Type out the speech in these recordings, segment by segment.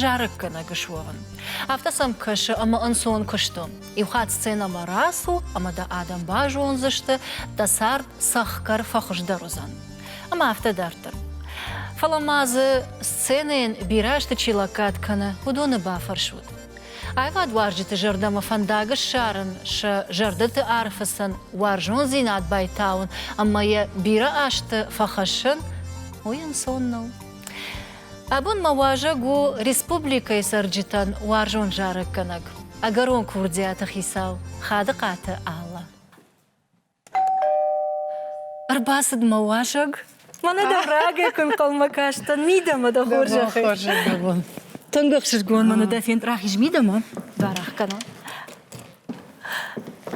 зарӕггӕнӕг суӕвын. Афтӕ сӕм кӕсы ӕмӕ ӕнцон куысты. Иухатт сценӕмӕ рацу ӕмӕ дӕ адӕм базондзысты, дӕ цард цӕхгӕр фӕхуыздӕр уыдзӕн. Ӕмӕ афтӕ дарддӕр. Фӕлӕ ма дзы сценӕйӕн бирӕ азты чи лӕггад кӕны, уыдоны бафӕрсут. Аивадуарзджыты зӕрдӕмӕ фӕндаг ссарын, сӕ зӕрдӕты ӕрфыцын, уарзондзинад байтауын ӕмӕ йӕ бирӕ азты фӕхӕссын, уый ӕнцон нӕу. Абон мӕ уазӕг у республикӕйы цӕрджытӕн уарзон зарӕггӕнӕг, ӕгӕрон курдиаты хицау Хадыхъаты Алла. Ӕрбацыд мӕ уазӕг. Мӕнӕ дӕ рагӕй куы нхъӕлмӕ кастӕн, мидӕмӕ дӕ хорзӕхӕй. Тынг ӕхсызгон мӕн дӕ фенд рахиз мидӕмӕ. Барах кӕнон.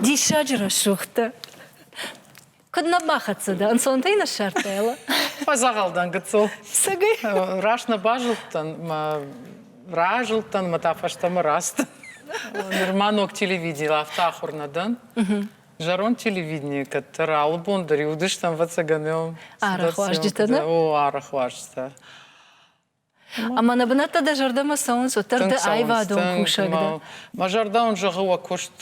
Диссаджы рӕсугъд дӕ. Куыд нӕ бахӕццӕ дӕ? Ӕнцонтӕй ныссардтай, Фӕдзӕгъӕлдӕн гыццыл. Сӕгӕй? Раст нӕ базылдтӕн, мӕ разылдтӕн, мӕ та фӕстӕмӕ раст. Нырма ног телевидел, афтӕ ахуыр нӕ дӕн. Зӕронд телевиденийы кӕддӕр алы бон дӕр иудыстӕм, ӕвӕццӕгӕн, арахуарзджытӕ нӕ? О, арахуарзджытӕ. Ӕмӕ нӕ бынӕттӕ дӕ зӕрдӕмӕ цӕуынц, уӕддӕр дӕ аивадон кусӕг дӕ. Мӕ зӕрдӕ уын зӕгъы, уӕ куыст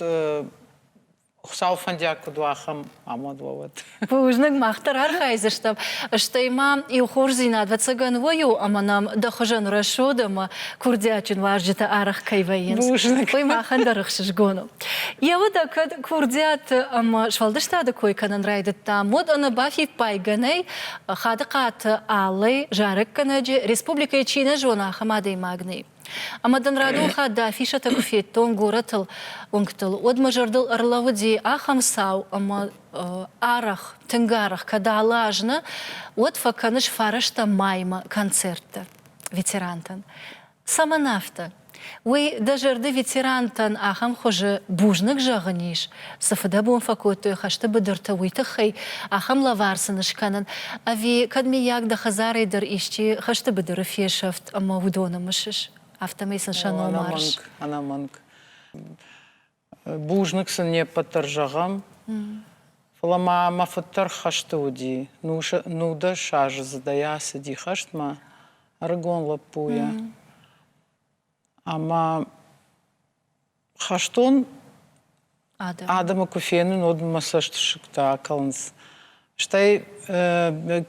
Хуыцау фӕндиаг куыд у, ахӕм амад уӕ уӕд. Бузныг, мах дӕр архайдзыстӕм. Стӕй ма иу хорздзинад, ӕвӕццӕгӕн, уый у, ӕмӕ нӕм дӕ хуызӕн рӕсугъд ӕмӕ курдиатджын уазджытӕ арӕх кӕй вӕййынц. Бузныг. Уый махӕн дӕр ӕхсызгон у. Йӕ удӕг кӕд курдиаты ӕмӕ сфӕлдыстады кой кӕнын райдыдтам, уӕд ӕнӕ бафиппайгӕ нӕй, Хадыхъаты Аллӕ, зарӕггӕнӕджы, республикӕйы чи нӕ зоны, ахӕм адӕймаг нӕй. Ӕмӕ дын радохат дӕ афишӕтӕ куы федтон горӕтыл, уынгтыл, уӕд мӕ зӕрдыл ӕрлӕууыди ахӕм цау ӕмӕ арӕх, тынг арӕх кӕд алы аз нӕ, уӕд фӕкӕныс фарӕстӕм маймӕ концертты ветерантӕн. Цӕмӕн афтӕ? Уый дӕ зӕрды ветерантӕн ахӕм хуызы бузныг зӕгъын ис, цы фыдӕбон фӕкодтой хӕсты быдырты, уый тыххӕй, ахӕм лӕвар сын скӕнын, ӕви кӕд, мыййаг, дӕ хӕдзарӕй дӕр исчи хӕсты быдыры фесӕфт ӕмӕ уыдоны мысыс, афтӕмӕй сын сӕ номарыс? Ӕнӕмӕнг, ӕнӕмӕнг. Бузныг сын не ппӕт дӕр зӕгъӕм. Фӕлӕ ма мӕ фыддӕр хӕсты уыди. Нудӕсаздзыдӕй ацыди хӕстмӕ ӕрыгон лӕппуйӕ. Ӕмӕ хӕстон адӕм, адӕмы куы фенын, уӕд мӕ цӕстысыгтӕ акӕлынц. Стӕй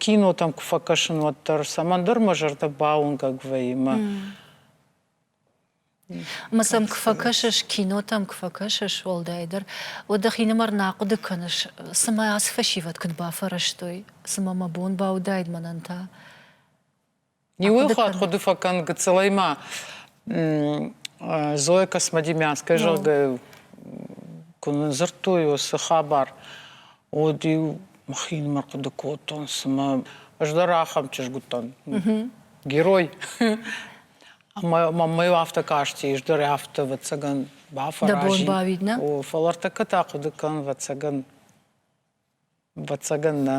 кинотӕм куы фӕкӕсын, уӕддӕр цӕмӕндӕр мӕ зӕрдӕ бауынгӕг вӕййы мӕ Ӕмӕ сӕм куы фӕкӕсыс, кинотӕм куы фӕкӕсыс уӕлдайдӕр, уӕд дӕхинымӕр нӕ хъуыды кӕныс, цымӕ ацы фӕсивӕд куыд бафӕрӕзтой, цымӕ мӕ бон бауыдаид мӕнӕн та? Иуйыл хатт хъуыды фӕкӕн гыццылӕй ма Зоя Космодемьянская, зӕгъгӕ, куы ныдзырдтой уыцы хабар, уӕд-иу мӕхинымӕр хъуыды кодтон, цымӕ ӕз дӕр ахӕм чызг уыдтӕн, герой. Маммӕ афтӕ касти, ӕз дӕр афтӕ вӕццӕгӕн бафӕразин. Дӕ бон бауид, нӕ? О, фӕлӕ ӕртӕккӕ та хъуыды кӕн, вӕццӕгӕн. Вӕццӕгӕн нӕ.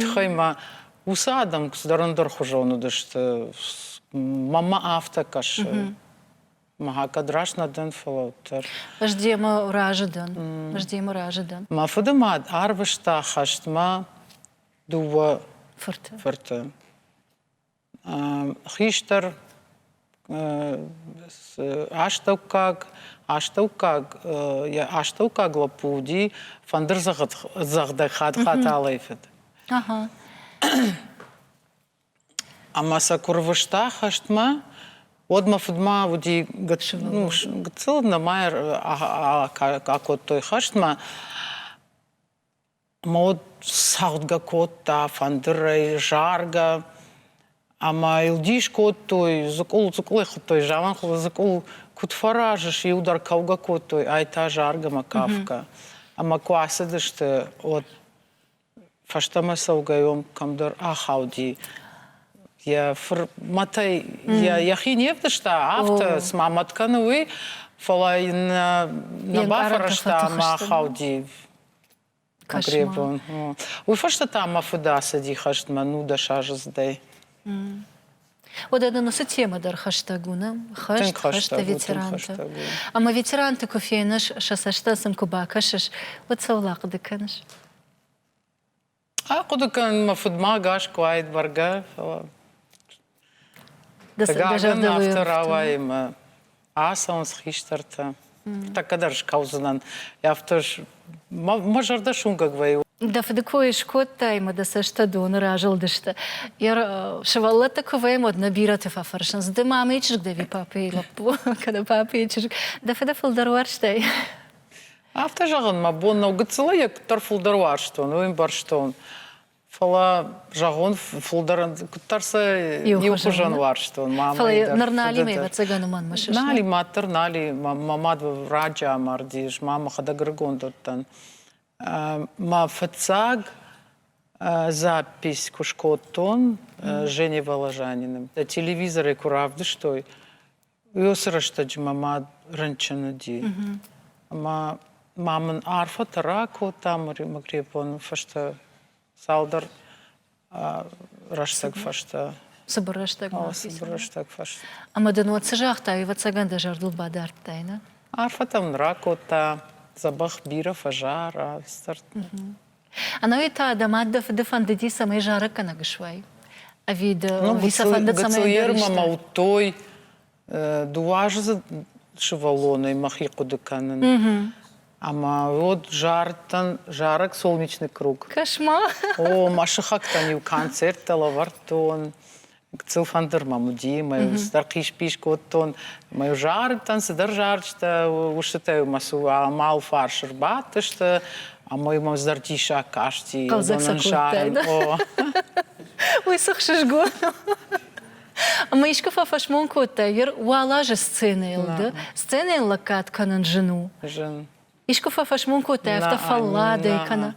Тыххӕй ма уыцы адӕм цыдӕр ӕндӕрхуызон уыдысты. Маммӕ афтӕ кӕсы. Мӕ кӕд раст нӕ дӕн, фӕлӕ уӕддӕр. Ӕз демӕ разы дӕн. Ӕз демӕ разы дӕн. Мӕ фыдымад арвыста хӕстмӕ дыууӕ фырты. Фырты. Хистӕр астӕуккаг, астӕуккаг, йӕ астӕуккаг лӕппу уыди фӕндырдзӕгъдӕг хӕтӕлӕй фыд. Ӕмӕ сӕ куы рвыста хӕстмӕ, уӕд мӕ фыдмӕ уыди гыццыл, нӕма акодтой хӕстмӕ. Ма уӕд цагъдгӕ кодта фӕндырӕй заргӕ ӕмӕ йыл дис кодтой, дзыкъул-дзыкъул хуыдтой, зӕвӕнхуыз-дзыкъул куыд фӕразыс, иу дӕр кӕугӕ кодтой, ай та заргӕмӕ кафгӕ. Ӕмӕ куы ацыдысты, уӕд фӕстӕмӕ цӕугӕйон кӕмдӕр ахауди. Йӕ фырмӕтӕй йӕ йӕхи не вдыста, афтӕ, цыма мӕт кӕны, уый, фӕлӕ йын нӕ бафӕрӕзта ӕмӕ ахауди. Конкретон. Уый фӕстӕ та мӕ фыд ацыди хӕстмӕ нудӕсаздзыдӕй. Уӕдӕ нын уыцы темӕ дӕр хӕстӕг уыны хӕст, хӕсты ветерантӕ. Ӕмӕ ветеранты куы феныс, сӕ цӕстӕ сын куы бакӕсыс, уӕд сӕ уыл ахъуыды кӕныс? Ахъуыды кӕнын мӕ фыдмӕ ӕгас куы уаид бӕргӕ, фӕлӕ афтӕ рауайы мӕ ацӕуынц хистӕртӕ. Тӕккӕ дӕр скӕудзынӕн. Афтӕ мӕ зӕрдӕ суынгӕг вӕййы. Дӕ фыды кой скодтай ӕмӕ дӕ цӕстӕ доны разылдысты. Йӕ сывӕллӕтты куы вӕййӕм, уӕд нӕ бирӕты фӕфӕрсынц, ды мамӕйы чызг дӕ ви папӕйы лӕппу, кӕнӕ папӕйы чызг. Дӕ фыды фылдӕр уарзтай? Афтӕ зӕгъын мӕ бон нӕу гыццылы йӕ куыддӕр фылдӕр уарзтон, уый ӕмбӕрстон. Фӕлӕ зӕгъон фылдӕр куыддӕр сӕ иу хуызӕн уарзтон. Фӕлӕ ныр Налимӕ ӕвӕццӕгӕн уымӕн сыстад. Нали мад дӕр Нали, мӕ мад раджы амардис, мӕ мӕхӕдӕг ӕрыгонд уыдтӕн. Мӕ фыццаг запись куы скодтон Жене Воложанины телевизорӕй куы равдыстой, Уыцы рӕстӕджы мӕ мад рынчын уыди. Ӕмӕ ма мын арфӕтӕ ракодта Магребоны фӕстӕ цалдӕр рӕстӕг фӕстӕ. Цыбыр рӕстӕг ма Цыбыр рӕстӕг фӕстӕ. Ӕмӕ дын уӕд цы загътай, ӕвӕццӕгӕн дӕ зӕрдыл бадардтай, нӕ? Арфӕтӕ мын ракодта, дзӕбӕх бирӕ фӕзара, стӕртт. Ӕнӕуи та дӕ мад дӕ фыды фӕндыди, цӕмӕй зарӕггӕнӕг суай. Ӕви дӕ ну, уый сӕ фӕнды, цӕмӕй мӕ дуаздзыд сывӕллонӕй мӕхи хъуыды кӕнын. Ӕмӕ уӕд зарыдтӕн зарӕг «Солнечный круг». Кошмар! О, мӕ сыхӕгтӕн-иу концерттӕ лӕвӕрдтон. гыццыл фӕндыр мӕм уыди, мӕ стӕр хъис-пис кодтон, мӕ зарджытӕн цыдӕр зарджытӕ, устытӕ мӕ сыл амал фарс ӕрбадтысты, ӕмӕ мӕм зӕрдиссаг касти. Хъӕлдзӕг сӕ Уый цы хсызгон Ӕмӕ искуы фӕфӕсмон кодтай, Вер, уал азы сценӕйыл ды? Сценӕйыл лӕггад кӕнын зын у. Зын. Искуы фӕфӕсмон кодтай, афтӕ фӕлладӕй кӕнӕ?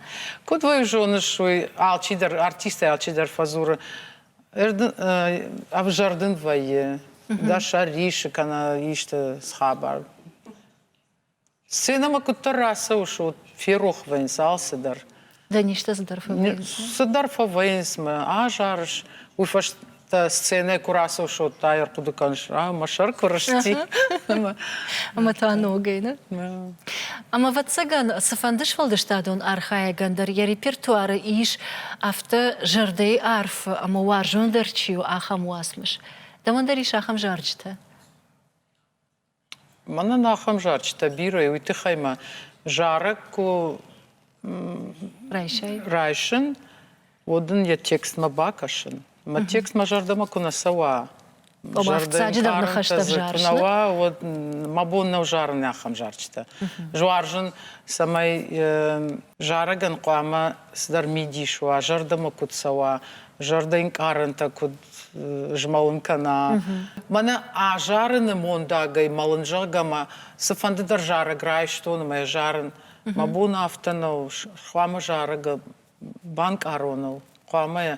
Куыд уый зоныс, уый алчидӕр, артисттӕй алчидӕр фӕдзуры. Ӕвзӕрдын вӕййы, дӕ сӕр рисы кӕнӕ исты схабар. Сценӕмӕ куыддӕр рацӕуыс, уӕд ферох вӕййынц алцыдӕр. Да ништӕ цыдӕр фӕвӕййынц. Цыдӕр фӕвӕййынц мӕ азарыс. Уый фӕстӕ сценӕ куы рацӕуьшот, тай ӕрхъуыды кӕныс, а, мӕ сӕр куы рысти. Ӕмӕ та ногӕй, нӕ? Ӕмӕ, ӕвӕццӕгӕн, цыфӕнды сфӕлдыстадон архайӕгӕн дӕр йӕ репертуары ис афтӕ зӕрдӕйы арф ӕмӕ уарзондӕр чи у, ахӕм уацмыс. Дӕуӕн дӕр ис ахӕм зарджытӕ? Мӕнӕн ахӕм зарджытӕ бирӕ уый тыххӕй мӕ зарӕг куы райсай райсын, уӕд ын йӕ текстмӕ бакӕсын. Мӕ текст мӕ зӕрдӕмӕ куы нӕ цӕуа, зӕрдӕйы хъарутӕ дзы куы нӕ уа, уӕд мӕ бон нӕу зарын ахӕм зарджытӕ. Зуарзын, цӕмӕй зарӕгӕн хъуамӕ цыдӕр мидис уа, зӕрдӕмӕ куыд цӕуа, зӕрдӕнкъарӕнтӕ куыд змӕлын кӕна. Мӕнӕ азарыны мондагӕй мӕлын зӕгъгӕ мӕ цыфӕнды дӕр зарӕг райстон ӕмӕ зарын. Мӕ бон афтӕ нӕу, хъуамӕ зарӕг банкъароныл хъуамӕ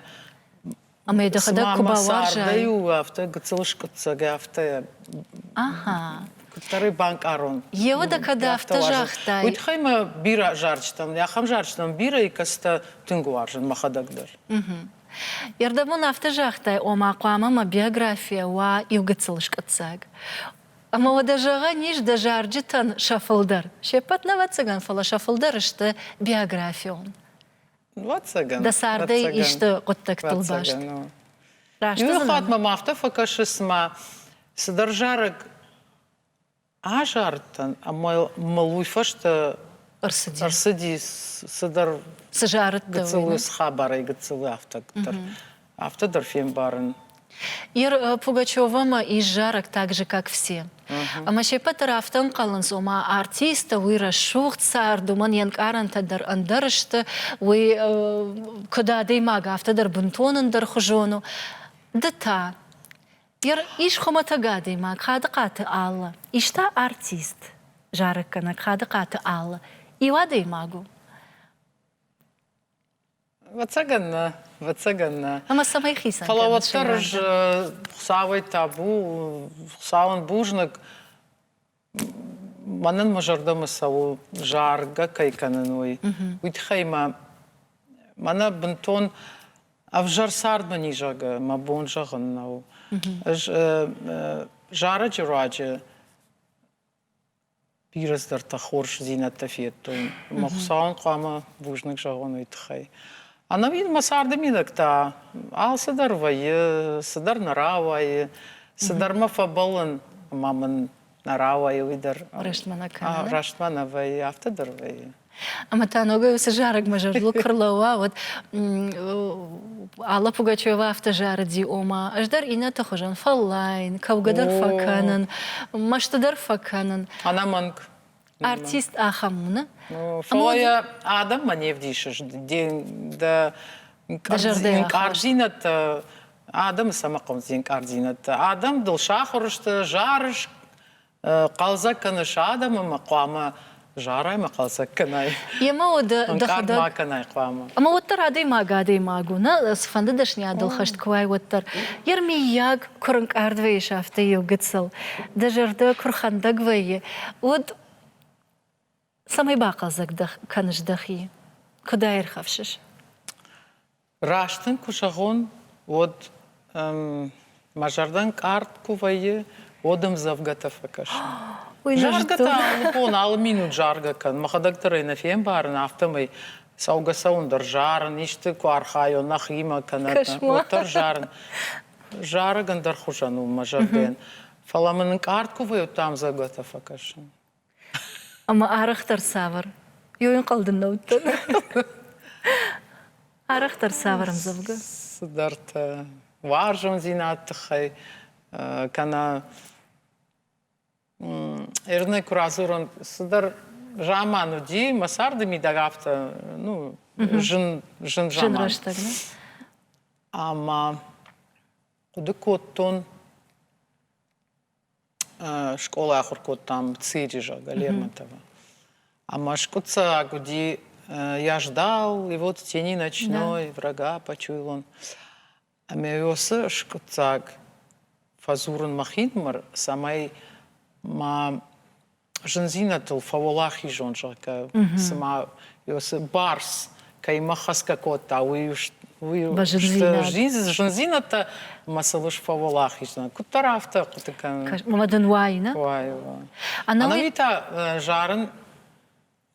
Ӕмӕ дӕхӕдӕг куы бауарзай. у афтӕ гыццыл скъуыддзаг, афтӕ. Аха. Куыддӕр ӕй банкъарон. Еуы дӕ кӕд афтӕ загътай? Уый тыххӕй мӕ бирӕ зарджытӕм, ахӕм зарджытӕм бирӕ икӕцытӕ тынг уарзын мӕхӕдӕг дӕр. Ердӕбон афтӕ загътай, ома хъуамӕ мӕ биографийӕ уа иу гыццыл скъуыддзаг. Ӕмӕ уӕдӕ, зӕгъӕн ис, дӕ зарджытӕн сӕ фылдӕр, се ппӕт нӕ, ӕвӕццӕгӕн, фӕлӕ сӕ фылдӕр сты биографион. Лӕццӕгӕн. Дӕ цардӕй Лӕццӕгӕн. исты хъуыддӕгтыл баст. Раст Иу хатт мӕм афтӕ фӕкӕсы, цыма цыдӕр зарӕг азардтӕн, ӕмӕ мыл уый фӕстӕ ӕрцыди, ӕрцыди цыдӕр цы зарыд гыццыл, схабарӕй гыццыл, афтӕ дӕр. Афтӕ дӕр фембарын. Ир Пугачевамӕ ис зарӕг также, как все. Ӕмӕ се ппӕт дӕр афтӕ ӕнхъӕлынц, ома артисттӕ, уый рӕсугъд цард, уымӕн йе нкъарӕнтӕ дӕр ӕндӕр сты, уый куыд адӕймаг, афтӕ дӕр бынтон ӕндӕрхуызон у. Ды та? Ир ис хуымӕтӕг адӕймаг Хадыхъаты Аллӕ, ис та артист, зарӕггӕнӕг Хадыхъаты Аллӕ. Иу адӕймаг у. Вӕцӕгӕн нӕ, вӕцӕгӕн нӕ. Ӕмӕ цӕмӕй хицӕн Фӕлӕ уӕддӕр ӕз Хуыцауӕй табу, Хуыцауӕн бузныг, мӕнӕн мӕ зӕрдӕмӕ цӕуы, заргӕ кӕй кӕнын, уый. Уый тыххӕй мӕ мӕнӕ бынтон ӕвзӕр цардмӕ низӕгы мӕ бон зӕгъын нӕу. Ӕз зарӕджы руаджы бирӕ цыдӕртӕ хорздзинӕдтӕ федтон. Мӕ Хуыцауӕн хъуамӕ бузныг зӕгъон уый тыххӕй. Ӕнӕ мин мӕ царды минӕгтӕ алцыдӕр вӕййы, цыдӕр нӕ рауайы, цыдӕрмӕ фӕбӕлын, ӕмӕ мын нӕ рауайы уый дӕр. Рӕстмӕ нӕ кӕны. Рӕстмӕ нӕ вӕййы, афтӕ дӕр вӕййы. Ӕмӕ та ногӕй уыцы зарӕгмӕ зӕрдыл куы рлӕууа, уӕд Алла Пугачева афтӕ зарыди, ома, ӕз дӕр иннӕты хуызӕн фӕллайын, кӕугӕ дӕр фӕкӕнын, мӕсты дӕр фӕкӕнын. Ӕнӕмӕнг. Артист ахӕм уыны. Фӕлӕ йӕ адӕммӕ не вдисыс, дӕ инкъардзинӕдтӕ адӕмы цӕмӕ хъуынц инкъардзинӕдтӕ? Адӕм дыл сахуыр сты, зары хъӕлдзӕг кӕныс адӕмы ӕмӕ хъуамӕ зарай ма хъӕлдзӕг кӕнай. Ема уӕдӕ дӕхӕдӕг ма кӕнай хъуамӕ. Ӕмӕ уӕддӕр адӕймаг адӕймаг у, нӕ цыфӕнды дӕсныйадыл хӕст куы уай, уӕддӕр. Ер миййаг, куы рынкъард вӕййыс афтӕ иу гыццыл, дӕ зӕрдӕ куы рхӕндӕг вӕййы, уӕд цӕмӕй бахъӕлдзӕг кӕныс дӕхи? Куыд ӕй ӕрхӕфсыс? Раст ын куы зӕгъон, уӕд мӕ зӕрдӕ ӕнкъард куы вӕййы, уӕд ӕм дзӕвгӕтӕ фӕкӕсын. Заргӕ та бон алы минут заргӕ кӕн. Мӕхӕдӕг дӕр ӕй нӕ фембарын, афтӕмӕй цӕугӕ-цӕуын дӕр зарын, исты куы архайон нӕхимӕ кӕнӕ уӕддӕр зарын. Зарӕг ӕндӕр хуызӕн у мӕ зӕрдӕйӕн. Фӕлӕ мын ӕнкъард куы вӕййы, уӕд ӕм дзӕвгӕтӕ фӕкӕсын. Ӕмӕ арӕхдӕр цавӕр? Йо, ӕнхъӕл дын нӕ уыдтӕн. Арӕхдӕр цавӕр ӕмдзӕвгӕ? Цыдӕртӕ. Уарзондзинад тыххӕй кӕнӕ Эрнӕ куы радзурон, цыдӕр заман уыди, мӕ царды мидӕг афтӕ, ну, зын, зын заман. Зын рӕстӕг, нӕ? Ӕмӕ хъуыды кодтон, скъолай ахуыр кодтам ЦИДИ, зӕгъгӕ, Лермонтова. Ӕмӕ скъуыддзаг уыди я ждал его в тени ночной, врага почуял он. Ӕмӕ уыцы скъуыддзаг фӕдзурын мӕ хинмӕр, цӕмӕй ма зындзинӕдтыл фӕуӕлахизон, зӕгъгӕ, цыма цы барс кӕимӕ хӕцгӕ кодта, уый уый зындзинӕдтӕ ӕмӕ сыл фӕуӕлахиздзинад. Куыддӕр афтӕ хъуыды кӕнын. Ӕмӕ дын уайы, нӕ? Уайы, уайы. Ӕнӕуи та зарын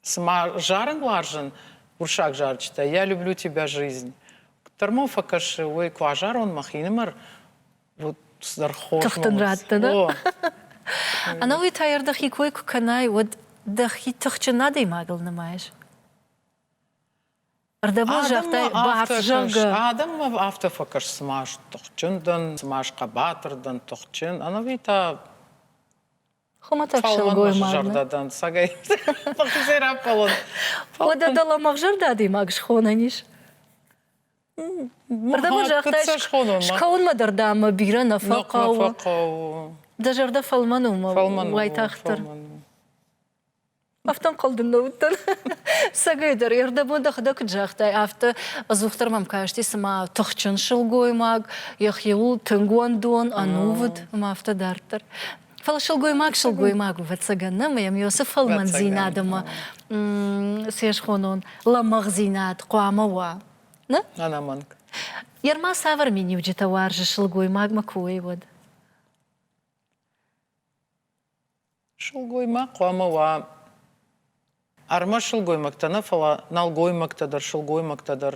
Цыма зарынуарзын урсаг зарджытӕ «Я люблю тебя, жизнь» куыддӕр мыл фӕкӕсы, уый куы азарон мӕхинымӕр, уӕд цыдӕр хорз тыхтын радтын. Ӕнӕуый та йӕр дӕхи кой куы кӕнай, уӕд дӕхи тыхджын адӕймагыл нымайыс? Ӕрдӕбон загътай, бавзӕнгӕ. Адӕммӕ афтӕ фӕкӕс, цыма тыхджын дӕн, цыма схъӕбатыр дӕн, тыхджын. Ӕнӕуи та Хуымӕтӕг сылгоймаг. Сагай. Фахизӕй раппӕлон. Уӕдӕ дӕлӕмӕгзӕрдӕ адӕймаг схонӕн ис? Уырдӕм загътай, скӕуынмӕ дӕр дӕ ӕмӕ бирӕ нӕ фӕхъӕуы. Дӕ зӕрдӕ фӕлмӕн у, фӕлмӕн уайтагъддӕр. Ӕхтӕнхъӕл дын нӕ уыдтӕн. Сӕгӕйдӕр ердӕбон дӕхӕдӕг куыд загътай, афтӕ ӕдзухдӕр мӕм касти, цыма тыхджын сылгоймаг, йӕхиуыл тынг уӕндон, ӕнувыд, ӕмӕ афтӕ дарддӕр. Фӕлӕ сылгоймаг сылгоймаг у, ӕвӕццӕгӕн, нӕ мӕм йосы фӕлмӕндзинад ӕмӕ се схонон лӕмӕгъдзинад хъуамӕ уа. Нӕ? Ӕнӕмӕнг. Йе рма цавӕр миниуджытӕ уарзы сылгоймагмӕ куы уой, уӕд? Сылгоймаг хъуамӕ уа ӕрмӕст сылгоймӕгтӕ нӕ, фӕлӕ нӕлгоймӕгтӕ дӕр, сылгоймӕгтӕ дӕр.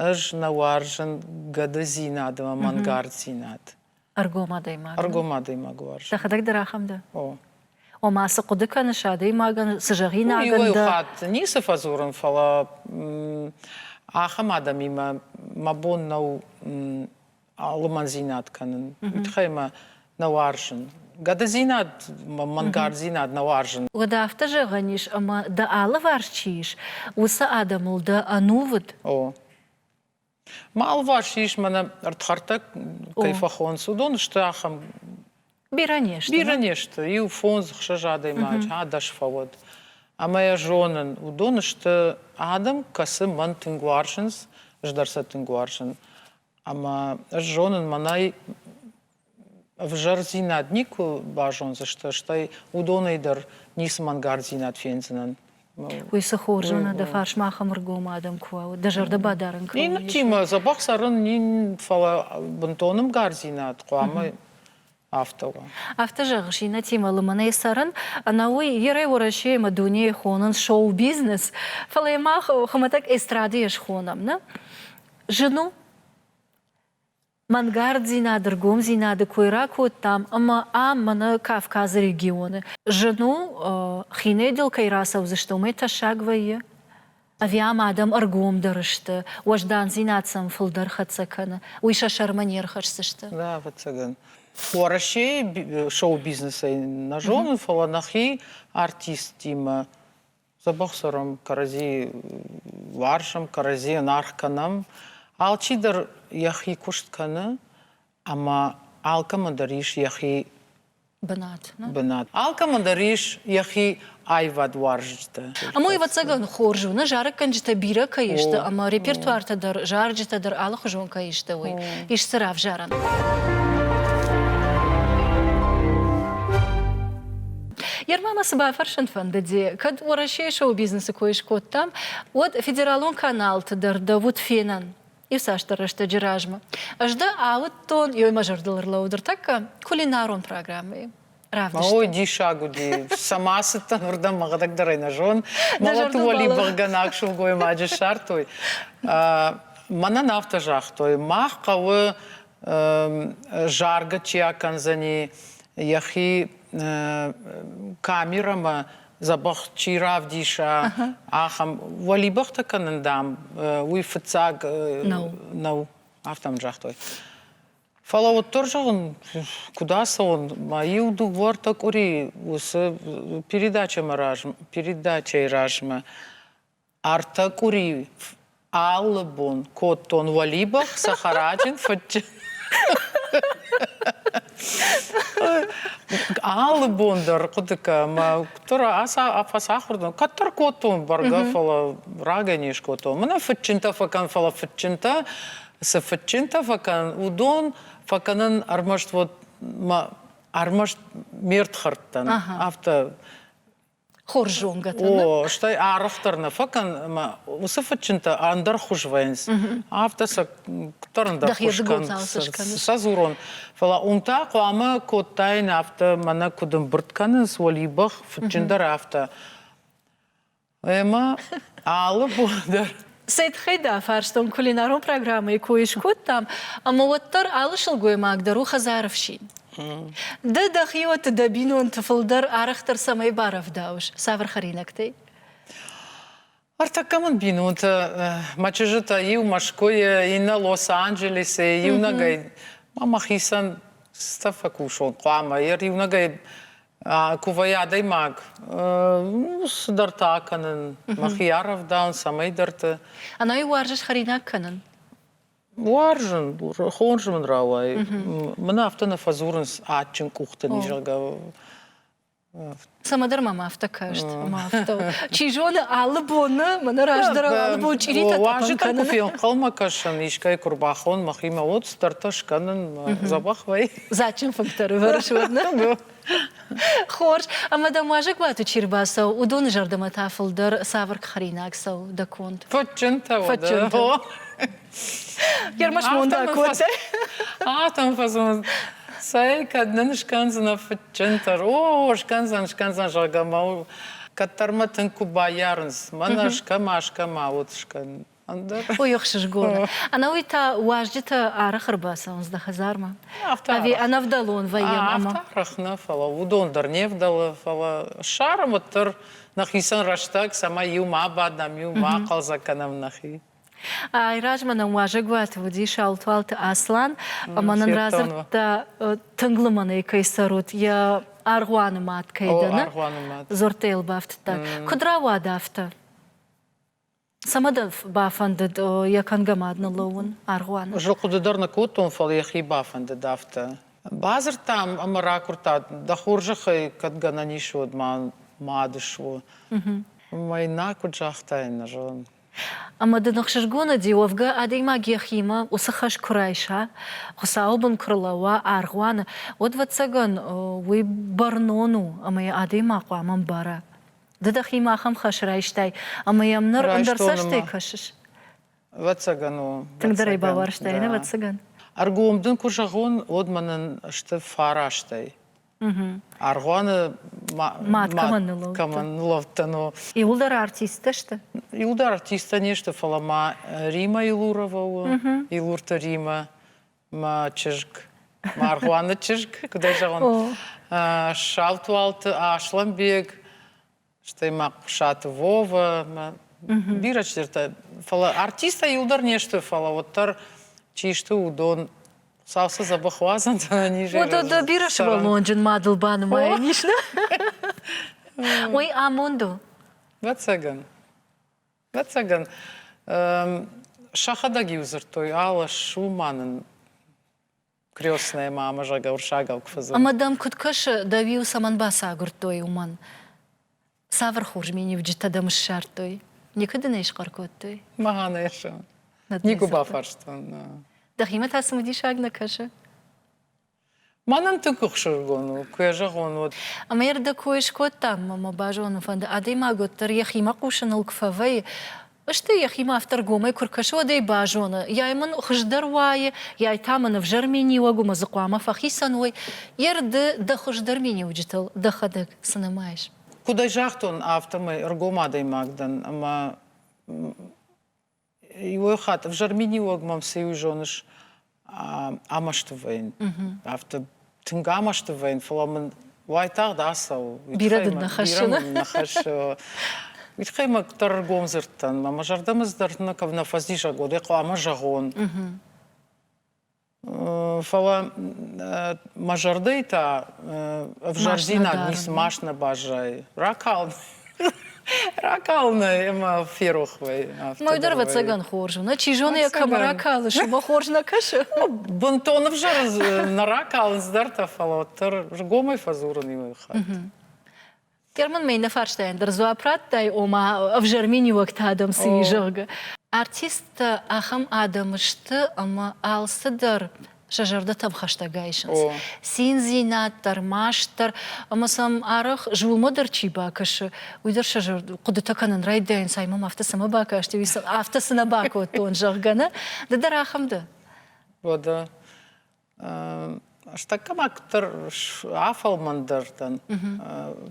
Ӕз нӕ уарзын гӕдыдзинад ӕмӕ мӕнгарддзинад. Ӕргом адӕймаг. Ӕргом адӕймаг уарзын. Дӕхӕдӕг дӕр ахӕм дӕ? О. Ома, цы хъуыды кӕныс адӕймагӕн, цы зӕгъинаг ын дӕ? Иуӕй хатт ницы фӕдзурын, фӕлӕ ахӕм адӕмимӕ мӕ бон нӕу алымӕндзинад кӕнын, уый тыххӕй мӕ нӕ уарзын. Гӕдыдзинад, мӕнгарддзинад нӕ уарзын. Уӕд афтӕ зӕгъӕн ис, ӕмӕ дӕ алыварс чи ис, уыцы адӕмыл дӕ ӕнувыд? О. Мӕ алыварс ис, мӕнӕ ӕрдхӕрдтӕ кӕй фӕхонц, уыдон сты ахӕм. Бирӕ не сты. Бирӕ не сты. Иу фондз, ӕхсӕз адӕймаджы ӕдас фӕуӕд. Ӕмӕ йӕ зонын, уыдон сты адӕм, кӕцы мӕн тынг уарзынц, ӕз дӕр сӕ тынг уарзын. Ӕмӕ ӕз зонын, мӕнӕй ӕвзӕрдзинад никуы базондзысты, стӕй уыдонӕй дӕр ницы мӕнгардзинад фендзынӕн. Уый цы хор зоны, дӕ фарс мах ӕмыргом адӕм куы уа, уӕд дӕ зӕрдӕ бадарын кӕуы. Иннӕтимӕ дзӕбӕх цӕрын, фӕлӕ бынтон ӕмгардзинад хъуамӕ Афтӕ у. Афтӕ зӕгъыс, иннӕтимӕ лымӕнӕй цӕрын, ӕнӕуый Верӕ Уӕрӕсе ӕмӕ дунейы хонынц шоу-бизнес, фӕлӕ мах хуымӕтӕг эстрадӕйӕ схонӕм, нӕ? Зын у? Мӕнгарддзинады, ргомдзинады кой ракодтам ӕмӕ ам, мӕнӕ Кавказы регионы, зын у, хинӕйдыл кӕй рацӕудзысты, уымӕй тӕссаг вӕййы? Ӕви ам адӕм ӕргомдӕр сты, уӕздандзинад сӕм фылдӕр хӕццӕ кӕны, уый сӕ сӕрмӕ не рхӕсдзысты? Нӕ, ӕвӕццӕгӕн, Уӕрӕсейы шоу-бизнесӕй нӕ зонын, фӕлӕ нӕхи артисттимӕ дзӕбӕх цӕрӕм, кӕрӕдзи уарзӕм, кӕрӕдзийӕн аргъ кӕнӕм, алчидӕр йӕхи куыст кӕны, Ӕмӕ алкӕмӕ дӕр ис йӕхи бынат. бынат. Алкӕмӕ дӕр ис йӕхи аивадуарзджытӕ. Ам уый ӕвӕццӕгӕн хорз у, нӕ зарӕггӕнджытӕ бирӕ кӕй сты ӕмӕ репертуартӕ дӕр, зарджытӕ дӕр алыхуызон кӕй сты, уый ис дзы равзарӕн. Ермӕ мӕ цы бафӕрсын фӕндыди, кӕд Уӕрӕсейы шоу-бизнесы кой скодтам, уӕд федералон каналты дӕр дӕ уыд фенӕн. Ирцасдӕр рӕстӕджы размӕ ӕз дӕ ауыдтон, ёй мӕ зӕрдыл ӕрлӕууыд ӕртӕккӕ кулинарон программӕйы. Равдыстӕн. Ой, диссаг уыди. Цӕмӕ ацыдтӕн, уырдӕм мӕхӕдӕг дӕр ӕй нӕ зон. Мӕлӕты уӕлибыхъгӕнӕг сылгоймаджы ссардтой. Мӕнӕн афтӕ загътой, мах хъӕуы заргӕ чи акӕндзӕни, йӕхи камерӕмӕ дзӕбӕх чи равдиса, ахӕм уӕлибӕхтӕ кӕнын, дам, уый фыццаг нӕу. нӕу. Афтӕ мын загътой. Фӕлӕ уӕддӕр зӕгъын, куыд ацӕуын, мӕ иу дыууӕртӕ къуыри уыцы передачӕмӕ размӕ, передачӕйы размӕ Ӕртӕ къуыри алы бон кодтон уӕлибӕх, цӕхӕраджын фыдджын. Алы бон дӕр хъуыдыкӕ мӕ куыддӕр фӕцахуыр дӕн, кӕддӕр кодтон бӕргӕ, фӕлӕ рагӕй не скодтон. Мӕнӕ фыдджынтӕ фӕкӕн, фӕлӕ фыдджынтӕ, цы фыдджынтӕ фӕкӕн, уыдон фӕкӕнын ӕрмӕст вот ӕрмӕст ме рдхӕрдтӕн, афтӕ хорз зонгӕтӕ. О, стӕй арӕхдӕр нӕ фӕкӕн ӕмӕ уыцы фыдджынтӕ ӕндӕр хуыз вӕййынц. Афтӕ сӕ кӕддӕр ӕндӕр хуыз кӕнынц. Сӕ дзурон. Фӕлӕ уым та хъуамӕ кодтаин афтӕ, мӕнӕ куыд ӕмбырд кӕнынц уӕлибӕх, фыдджындӕр афтӕ. Ӕмӕ алы бон дӕр Цӕй тыххӕй дӕ фарстон, кулинарон программӕйы кой скодтам, ӕмӕ уӕддӕр алы сылгоймаг дӕр у хӕдзары фсин. Ды дӕхиуӕтты дӕ бинонты фылдӕр арӕхдӕр цӕмӕй барӕвдауыс? Цавӕр хӕринӕгтӕй? Ӕртӕккӕ мын бинонтӕ, мӕ чызджытӕ иу Мӕскуыйы, иннӕ Лос-Анджелисӕй, иунӕгӕй. Мӕ мӕхицӕн стӕ фӕкусон хъуамӕ. Йӕ иунӕгӕй Кувӕй адӕймаг цыдӕртӕ акӕнын, мӕхи арӕвдауын, цӕмӕйдӕрты. Ӕнӕ уарзыс хӕринаг кӕнын? Уарзын, хорз мын рауайы. Мын афтӕ нӕ фӕдзурынц адджын къухты ный, зӕгъгӕ. Цӕмӕдӕр мӕм афтӕ каст, ӕмӕ афтӕ. Чи зоны, алы боны, мӕнӕ раздӕрау алы бон чъиритӕ тъӕпӕн кӕнын. Куы фенхъӕлмӕ кӕсын, искӕй куы рбахон мӕхимӕ, уӕд цыдӕртӕ скӕнын, дзӕбӕх вӕййы. Дзаджджын фынгтӕ рывӕрыс уӕднӕ? Хорз. Ӕмӕ дӕм уазӕгуаты чи рбацӕуы, уыдоны зӕрдӕмӕ та фылдӕр цавӕр хӕринаг цӕуы дӕ конд? Фӕдджынтӕ уӕдӕ. Ермаш монда котӕ. Атом фӕзынд. Цӕй, кӕд нын скӕндзынӕ фыдджынтӕ? О, скӕндзӕн, скӕндзӕн, зӕгъгӕ, мӕ кӕддӕрмӕ тынг куы баййарынц, мӕнӕ скӕма, скӕма уыд скӕн. Ой, ӕхсызгон. Ӕнӕуый та уазджытӕ арӕх ӕрбацӕуынц дӕ хӕдзармӕ? Ӕви ӕнӕвдӕлон вӕййӕм ӕмӕ? Арӕх нӕ, фӕлӕ уыдон дӕр не вдӕлы, фӕлӕ ссарӕм уӕддӕр нӕхицӕн рӕстӕг, цӕмӕй иу ма бадӕм, иу ма хъӕлдзӕг кӕнӕм нӕхи. Айразмӕ нӕм уазӕгуаты уыди Саутуалты Аслан, ӕмӕ нын радзырдта, тынг лымӕн ӕй кӕй цӕрут, йӕ аргъуаны мӕт кӕй дӕны. Аргъуаны мӕт. Дзырдтӕ йыл бафтыдта. Куыд рауад афтӕ? Цӕмӕдӕр бафӕндыд йӕ кӕнгӕ мад ныллӕууын аргъуаны. Ӕз хъуыды дӕр нӕ кодтон, фӕлӕ йӕхи бафӕндыд афтӕ. Бадзырдтам ӕмӕ ракуырдта, дӕ хорзӕхӕй, кӕд гӕнӕн ис, уӕд ма мад суы. Уымӕй нӕ куыд загътай, нӕ зонын. Ӕмӕ дын ӕхсызгон уыди, уӕвгӕ адӕймаг йӕхимӕ уыцы хӕс куы райса, Хуыцауы бын куы рлӕууа аргъуаны, уӕд, ӕвӕццӕгӕн, уый бӕрнон у ӕмӕ йӕ адӕймаг хъуамӕ мбара. Ды дӕхимӕ ахӕм хӕс райстай, ӕмӕ йӕм ныр ӕндӕр цӕстӕй кӕсыс? Ӕвӕццӕгӕн у. Тынгдӕр ӕй баварстай, нӕ? Ӕвӕццӕгӕн. Ӕргом дын куы зӕгъон, уӕд мӕнӕн сты фарастӕй. Аргъуаны мад кӕмӕн ныуулӕфдтӕн, о. Иуылдӕр артисттӕ сты? Иуылдӕр артисттӕ не сты, фӕлӕ ма Рима Илурова у. Илурты Римӕ. мӕ чызг Маргъуаны чызг, куыд ӕй зӕгъон, Саутуалты Аслӕнбег, стӕй ма Хъуысаты Вова, мӕ бирӕ чидӕртӕ. Фӕлӕ артисттӕ иу дӕр не сты, фӕлӕ уӕддӕр чи сты, уыдон сау цы дзӕбӕх уадзӕн, Уыдон дӕ бирӕ сывӕллонджын мадыл банымайӕн ис, нӕ? Уый амонд у? Ӕвӕццӕгӕн. Ӕцӕгӕн, сӕхӕдӕг-иу дзырдтой, алы ссу ма нын крестнӕмӕ ӕмӕ зӕгъгӕ уырыссагау куы фӕдзырд. Ӕмӕ дӕм куыд кӕсы, дӕу-иу цӕмӕн бацагуырдтой уымӕн? Цавӕр хорз миниуджытӕ дӕм ссардтой? Никуы дын ӕй схъӕр кодтой? Мӕгъа нӕ зӕгъын. Никуы бафарстон. Дӕхимӕ та цымыдисаг нӕ кӕсы? Мӕнӕн тынг ӕхсызгон у, куы йӕ зӕгъон, уӕд. Ӕмӕ йӕрдӕг кой скодтам, ӕмӕ мӕ базонын фӕнды, адӕймаг уӕддӕр йӕхимӕ хъусыныл куы фӕвӕййы, стӕй йӕхимӕ автор гомӕй куы ркӕсы, уӕд ӕй базоны, йай мын хуыздӕр уайы, йай та мын ӕвзӕр миниуӕг у, мӕ дзы хъуамӕ фӕхицӕн уой, ерды дӕ хуыздӕр миниуджытыл дӕхӕдӕг цы нымайыс? Куыд ӕй загътон, афтӕмӕй ӕргом адӕймаг дӕн ӕмӕ Иуӕй хатт ӕвзӕр миниуӕг мӕм цы иу зоныс, амӕсты вӕййын. Афтӕ тынг амӕсты вӕййын, фӕлӕ мын уайтагъд ацӕуы. Бирӕ дын нӕ хӕссы? Нӕ хӕссы. Митхъаймӕ дӕр ӕргом дзырдтӕн. Мӕ зӕрдӕмӕ дӕр нӕ кӕм нӕ фӕзизӕг уӕд, хъуамӕ зӕгъон. Фӕлӕ мӕ зӕрдӕйы та ӕвзӕрдинаг ницы маст нӕ баззайы. Ракалын ракалынӕй ӕмӕ ферох вӕй. Мой дӕр, ӕвӕццӕгӕн, хорз у. Нӕ чи зоны, йӕ кӕмӕ ракалыс, уымӕ хорз нӕ кӕсы? Бынтон ӕвзӕры нӕ ракалынц дӕр та, фӕлӕ уӕддӕр ргомӕй фӕдзурын иуӕй хатт. Кермын мӕ иннӕ фарстайӕн дӕр дзуапп радтай, ома ӕвзӕр миниуӕгтӕ адӕм цы и, зӕгъгӕ. Артисттӕ ахӕм адӕм сты, ӕмӕ алцыдӕр сӕ зӕрдӕтӕм хӕстӕг айсынц. Циндзинад дӕр, маст дӕр, ӕмӕ сӕм арӕх зулмӕ дӕр чи бакӕсы, уый дӕр сӕ зӕрд хъуыдытӕ кӕнын райдайынц, ай мӕм афтӕ цӕмӕ бакасти, уый сын афтӕ цы нӕ бакодтон, зӕгъгӕ, нӕ? Ды дӕр ахӕм дӕ? Уӕдӕ Стӕгкӕмӕ куыддӕр афӕлмӕндӕр дӕн,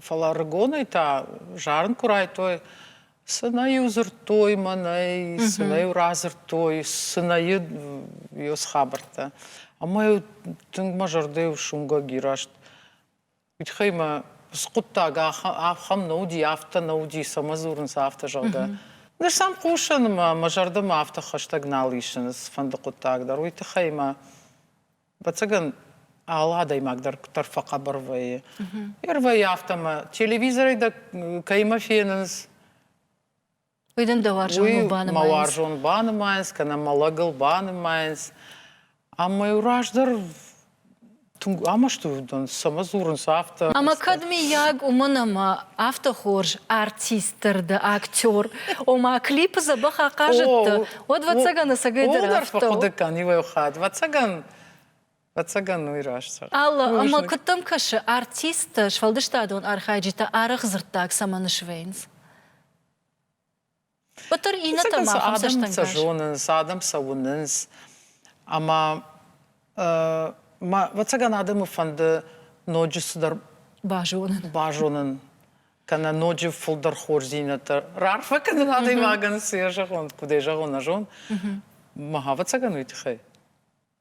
фӕлӕ рыгонӕй та зарын куы райдтой, сынӕ-иу дзырдтой мӕнӕй, сынӕ-иу радзырдтой, сынӕйы йе схабӕрттӕ. Ӕмӕ-иу тынг мӕ зӕрдӕ иу суынгӕг и раст. Митхай мӕ скъуыддаг ахӕм нӕ уыди, афтӕ нӕ уыди, цӕмӕ дзурынц, афтӕ, зӕгъгӕ. Ныр сӕм хъусын ӕмӕ мӕ зӕрдӕмӕ афтӕ хӕстӕг нал исынц фӕнды хъуыддаг дӕр. Уый тыххӕй мӕ, ӕвӕццӕгӕн, алы адӕймаг дӕр дӕр фӕхъӕбӕр вӕййы. Йе рвӕййы афтӕ, мӕ телевизорӕй дӕ кӕимӕ фенынц, Уый дын дӕ уарзон уый банымайынц. мӕ уарзон банымайынц, кӕнӕ мӕ лӕгыл банымайынц. Ӕмӕ раздӕр тынг амӕсты уыдон, цӕмӕ дзурынц афтӕ. Ӕмӕ кӕд, миййаг, уымӕн ӕмӕ афтӕ хорз артисттыр дӕ, актер, ома клипы дзӕбӕх ахъазыдтӕ, уӕд, ӕвӕццӕгӕн, ӕцӕгӕйдӕр афтӕ. Фӕхъуыды кӕн иу-ӕй хатт. Ӕвӕццӕгӕн, Ӕцӕгӕн уый раст цӕгъд. Алы ӕмӕ куыд дӕм кӕсы, артисттӕ, сфӕлдыстадон архайджытӕ арӕх дзырддаг цӕмӕн свӕййынц? Пытыр иннӕтӕ ма фӕм адӕм сӕ зонынц, адӕм сӕ уынынц. Ӕмӕ мӕ, ӕвӕццӕгӕн, адӕмы фӕнды ноджы цыдӕр базонын. Базонын кӕнӕ ноджы фылдӕр хорздзинӕдтӕ раарфӕ кӕнын адӕймагӕн, цы йӕ зӕгъон, куыд ӕй зӕгъон, нӕ зон. Мӕ ӕвӕццӕгӕн уый тыххӕй.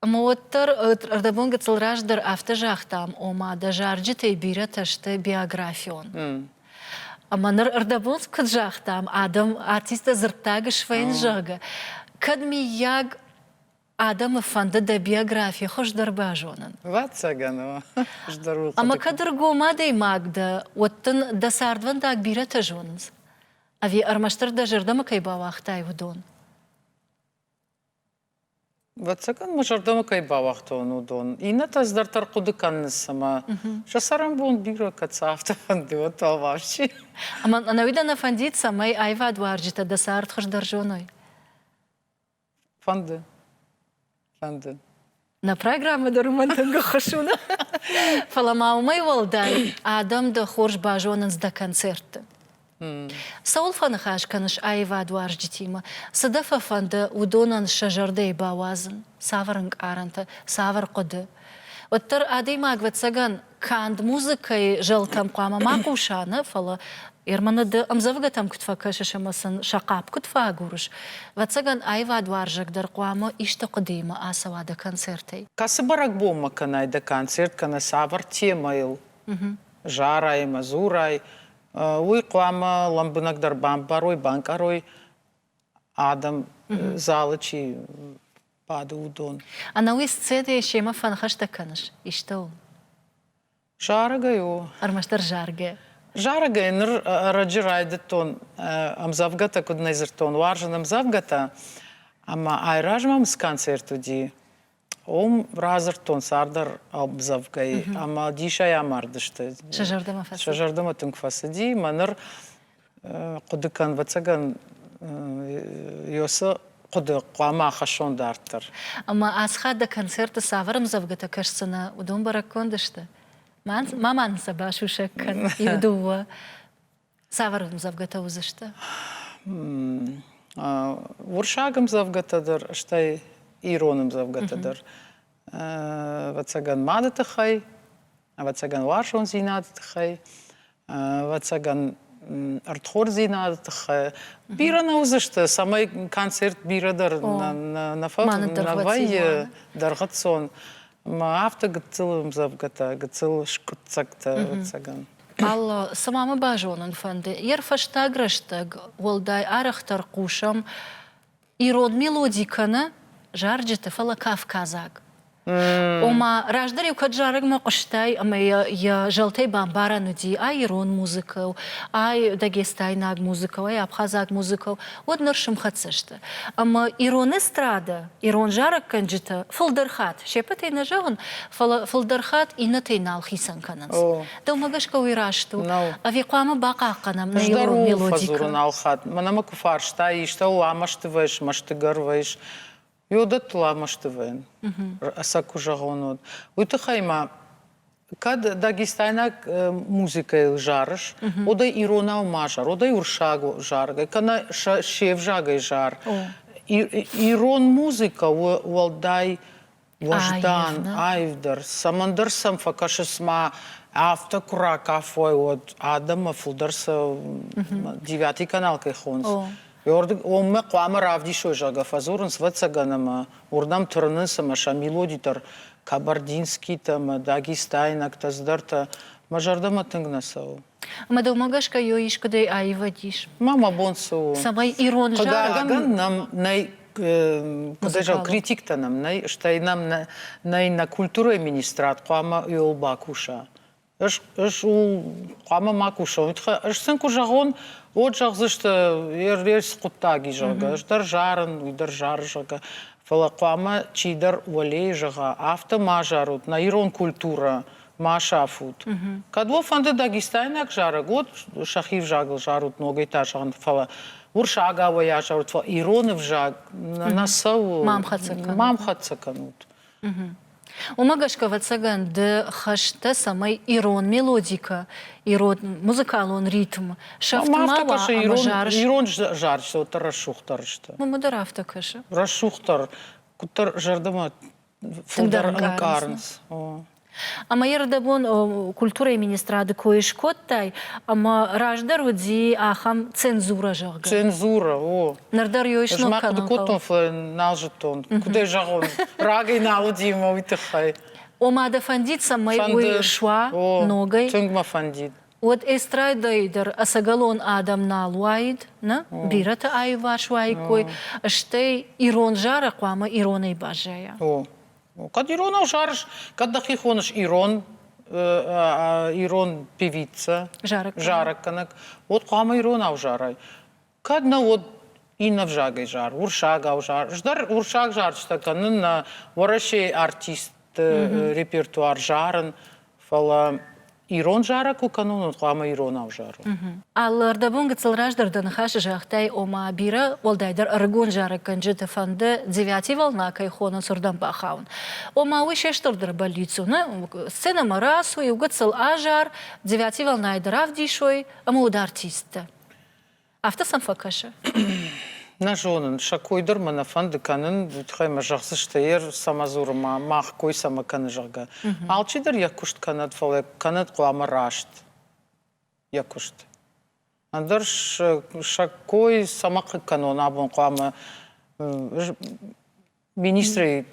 Ӕмӕ уӕддӕр ӕрдӕбон гыццыл раздӕр афтӕ загътам, ома дӕ зарджытӕй бирӕтӕ сты биографион. Ӕмӕ ныр ӕрдӕбон куыд загътам, адӕм артисттӕ дзырддаг сфӕйын зӕгъы, кӕд миййаг адӕмы фӕнды дӕ биографи хуыздӕр базонын. Ӕвӕццӕгӕн у. Хуыздӕр у. Ӕмӕ кӕд ӕргом адӕймаг дӕ, уӕд дын дӕ цардвӕндаг бирӕтӕ зонынц. Ӕви ӕрмӕстдӕр дӕ зӕрдӕмӕ кӕй бауагътай, уыдон? Вӕццӕгӕн мӕ зӕрдӕмӕ кӕй бауагътон, уыдон. Иннӕтӕ дӕрддӕр хъуыды кӕнынц, ӕмӕ сӕ цӕрӕнбон бирӕ кӕд цӕфтӕ фӕнды, уӕд алварс чи. Ӕмӕ ӕнӕуи дӕ нӕ фӕндид, цӕмӕй аивадуарзджытӕ дӕ цард хуыздӕр зоной? Фӕнды. Фӕнды. Нӕ программӕ дӕр уымӕн тынг ӕххӕст у, фӕлӕ ма уымӕй уӕлдай, адӕм дӕ хорз базонынц дӕ концертты. Цӕуыл фӕныхас кӕныс аивадуарзджытимӕ? Цы дӕ фӕфӕнды уыдонӕн сӕ зӕрдӕйы бауадзын? Цавӕр ӕнкъарӕнтӕ, цавӕр хъуыды? Уӕддӕр адӕймаг, ӕвӕццӕгӕн, канд музыкӕйы зӕлтӕм хъуамӕ ма хъуса нӕ, фӕлӕ Ермана ды ӕмдзӕвгӕтӕм куыд фӕкӕсыс ӕмӕ сын сӕ хъапп куыд фӕагурыс? Ӕвӕццӕгӕн, аивадуарзӕг дӕр хъуамӕ исты хъуыдыимӕ ацӕуа дӕ концертӕй. Кӕцы бӕрӕгбонмӕ кӕнай дӕ концерт кӕнӕ цавӕр темӕйыл зарай ӕмӕ дзурай, уый хъуамӕ лӕмбынӕгдӕр бамбарой, банкъарой адӕм залы чи бады, уыдон. Ӕнӕуи сцедейы семӕ фӕныхӕстӕ кӕныс? Истӕуыл? Зарӕгӕй у. Ӕрмӕстдӕр заргӕ. Зарӕгӕй ныр ӕрӕджы райдыдтон ӕмдзӕвгӕтӕ, куыд нӕ дзырдтон, уарзын ӕмдзӕвгӕтӕ, ӕмӕ айразмӕ мсконцерт уыди. Уым радзырдтон цардӕр ӕмдзӕвгӕйы ӕмӕ дисӕй амардысты. Сӕ зӕрдӕмӕ фӕцыди? Сӕ зӕрдӕмӕ тынг фӕцыди. Мӕ ныр хъуыды кӕн, ӕвӕццӕгӕн, Ёсы хъуыды хъуамӕ ахӕссон дарддӕр. Ӕмӕ ацхад дӕ концерты цавӕр ӕмдзӕвгӕтӕ кӕсдзынӕ, уыдон бӕрӕггонд сты? Ма ма нын сӕ басусӕг кӕн иу-дыууӕ. Цавӕр ӕмдзӕвгӕтӕ уыдзысты? Урсаг ӕмдзӕвгӕтӕ дӕр, стӕй ирон ӕмдзӕвгӕтӕ дӕр. Ӕвӕццӕгӕн мады тыххӕй, ӕвӕццӕгӕн уарзондзинады тыххӕй, ӕвӕццӕгӕн ӕрдхордзинады тыххӕй. Бирӕ нӕ уыдзысты, цӕмӕй концерт бирӕ дӕр нӕ фӕвӕййы дӕргъыцон. Мӕ афтӕ гыццыл ӕмдзӕвгӕтӕ, гыццыл скъуыддзӕгтӕ, ӕвӕццӕгӕн. Алло, цыма мӕ базонын фӕнды. Йе рфӕстаг рӕстӕг уӕлдай арӕхдӕр хъусӕм ирон мелоди кӕнӕ зарджыты, фӕлӕ кавказаг. Ома, раздӕр-иу кӕд зарӕгмӕ хъуыстай ӕмӕ йӕ, йӕ зӕлтӕй бамбарӕн уыди ай ирон музыкӕ, ай дагестайнаг музыкӕ, ай абхазаг музыкӕ, уӕд ныр сымхӕццӕ сты. Ӕмӕ ирон эстрада, ирон зарӕггӕнджытӕ фылдӕр хатт, се ппӕтӕй нӕ зӕгъын, фӕлӕ фылдӕр хатт иннӕтӕй нал хицӕн кӕнынц. Дӕумӕ гӕсгӕ уый раст у? Ӕви хъуамӕ бахъахъхъӕнӕм нӕ ирон мелодикӕ? нал хатт. Мӕнӕ мӕ куы фарста, истӕуыл ӕмӕстывӕйыс, мӕстыгӕрвӕйыс, уӕдӕттыл ӕмӕстывӕйӕн, сӕ куы зӕгъон, уӕд. Уый тыххӕй мӕ Кӕд дагестайнаг музыкӕйыл зарыс, уӕдӕй иронау ма зар, уӕдӕй урсаг заргӕ, кӕнӕ се взагӕй зар. Ирон музыкӕ у уӕлдай уӕздан, аивдӕр. Цӕмӕндӕр сӕм фӕкӕсыс ма афтӕ куы ракафой, уӕд адӕммӕ фылдӕр сӕ девятый канал кӕй хонц. Уырдыгонмӕ хъуамӕ равдисой, зӕгъгӕ, фӕдзурынц вӕццӕгӕн ӕмӕ уырдӕм тырнынц ӕмӕ сӕ мелодитӕр кабардинскитӕ ӕмӕ дагестайнӕгтӕ цыдӕртӕ мӕ зӕрдӕмӕ тынг нӕ цӕуы. Мӕ дӕумӕ гӕсгӕ йо искуыдӕй аивад ис? Ма мӕ бон цы у? Цӕмӕй ирон зарӕгӕн нӕм нӕй куыд зӕгъ, критиктӕ нӕм нӕй, стӕй нӕм нӕй нӕ культурӕйы министрад хъуамӕ ууыл бакуса. Ӕз, ӕз хъуамӕ ма куса. Ӕз сын куы зӕгъон, уӕд зӕгъдзысты, ервес хъуыддаг и, зӕгъгӕ, ӕз дӕр зарын, уый дӕр зары, зӕгъгӕ. Фӕлӕ хъуамӕ чидӕр уӕлейы зӕгъа, афтӕ ма зарут, нӕ ирон культурӕ ма сафут. Кӕд уӕ фӕнды дагестайнаг зарӕг, уӕд сӕхи взагыл зарут ногӕй та зӕгъын, фӕлӕ урсаг ауӕйа зарут, фӕлӕ ироны взаг нӕ цӕуы. Ма мхӕццӕ кӕнут. Ма мхӕццӕ кӕнут. Уымӕ гӕсгӕ, ӕвӕццӕгӕн, ды хӕстӕ, цӕмӕй ирон мелодикӕ, ирон музыкалон ритм сӕфтмӕ уа ӕмӕ зарыс. Ирон зарджытӕ рӕсугъддӕр сты. Мамӕ дӕр афтӕ кӕсы. Рӕсугъддӕр, куыддӕр зӕрдӕмӕ фылдӕр ӕнкъарынц. Ӕмӕ ердӕбон культурӕйы министрады кой скодтай, ӕмӕ раздӕр уыди ахӕм цензурӕ, зӕгъгӕ. Цензурӕ, о. Ныр дӕр йой сног кӕнын. Ӕз ма хъуыды кодтон, фӕлӕ нал зыдтон. Куыд ӕй зӕгъон, рагӕй нал уыди мӕ уый тыххӕй. Ома дӕ фӕндид, цӕмӕй уый суа ногӕй? Тынг мӕ фӕндид. Уӕд эстрадӕйы дӕр ӕцӕгӕлон адӕм нал уаид, нӕ? Бирӕты аиуварс уаиккой, стӕй ирон зарӕг хъуамӕ иронӕй баззайа. О, Кӕд ирон ӕвзарыс, кӕд дӕхи хоныс ирон, ирон певица, зарӕггӕнӕг, уӕд хъуамӕ ирон ӕвзарай. Кӕд нӕ уӕд иннӕ взагӕй зар, урсагау зар. Здӕр урсаг зарджытӕ кӕнын, нӕ Уӕрӕсейы артистты репертуар зарын, Фӕлӕ ирон зарӕг куы кӕнон, уӕд хъуамӕ иронау зарон. Алы ӕрдӕбон гыццыл раздӕр дӕ ныхасы загътай, ома бирӕ уӕлдайдӕр ӕрыгон зарӕггӕнджыты фӕнды, девятий волна кӕй хоныц, уырдӕм бахауын. Ома уый се стырдӕр бӕллиц у, нӕ? Сценӕмӕ рацу, иу гыццыл азар, девятий волнӕйы дӕр равдисой, ӕмӕ уыд артисттӕ. Афтӕ сӕм фӕкӕсы? Нӕ зонын, сӕ кой дӕр мӕ нӕ фӕнды кӕнын, уый тыххӕй мӕ зӕгъдзысты, ӕр цӕмӕ дзуры мах, кой цӕмӕ кӕны, зӕгъгӕ. Алчидӕр йӕ куыст кӕнӕд, фӕлӕ кӕнӕд хъуамӕ раст йӕ куыст. Ӕндӕр сӕ кой цӕмӕ кӕнон, абон хъуамӕ Министры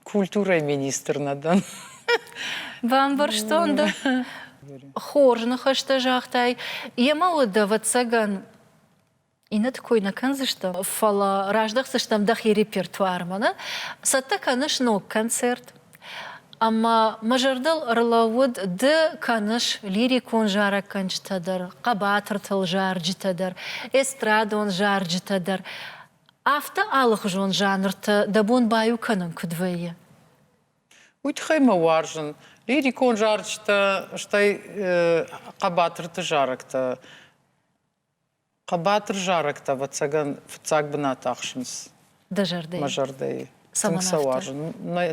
культурӕйы министр нӕ дӕн. Бамбӕрстон дӕ. Хорз ныхӕстӕ загътай. Йемӕ уыд, ӕвӕццӕгӕн, иннӕты кой нӕ кӕндзыстӕм, фӕлӕ раздахдзыстӕм дӕхи репертуармӕ. Нӕ? Цӕттӕ кӕныс ног концерт? Ӕмӕ мӕ зӕрдыл ӕрлӕууыд, ды кӕныс лирикон зарӕггӕнджытӕ дӕр, хъӕбатыртыл зарджытӕ дӕр, эстрадон зарджытӕ дӕр. Афтӕ алыхуызон жанртӕ дӕ бон баиу кӕнын куыд вӕййы? Уый тыххӕй мӕ уарзын лирикон зарджытӕ, стӕй хъӕбатырты зарӕгтӕ. Хъӕбатыр зарӕгтӕ, ӕвӕццӕгӕн, фыццаг бынат ахсынц дӕ зӕрдӕйы. Мӕ зӕрдӕйы. Тынг сӕ уарзын.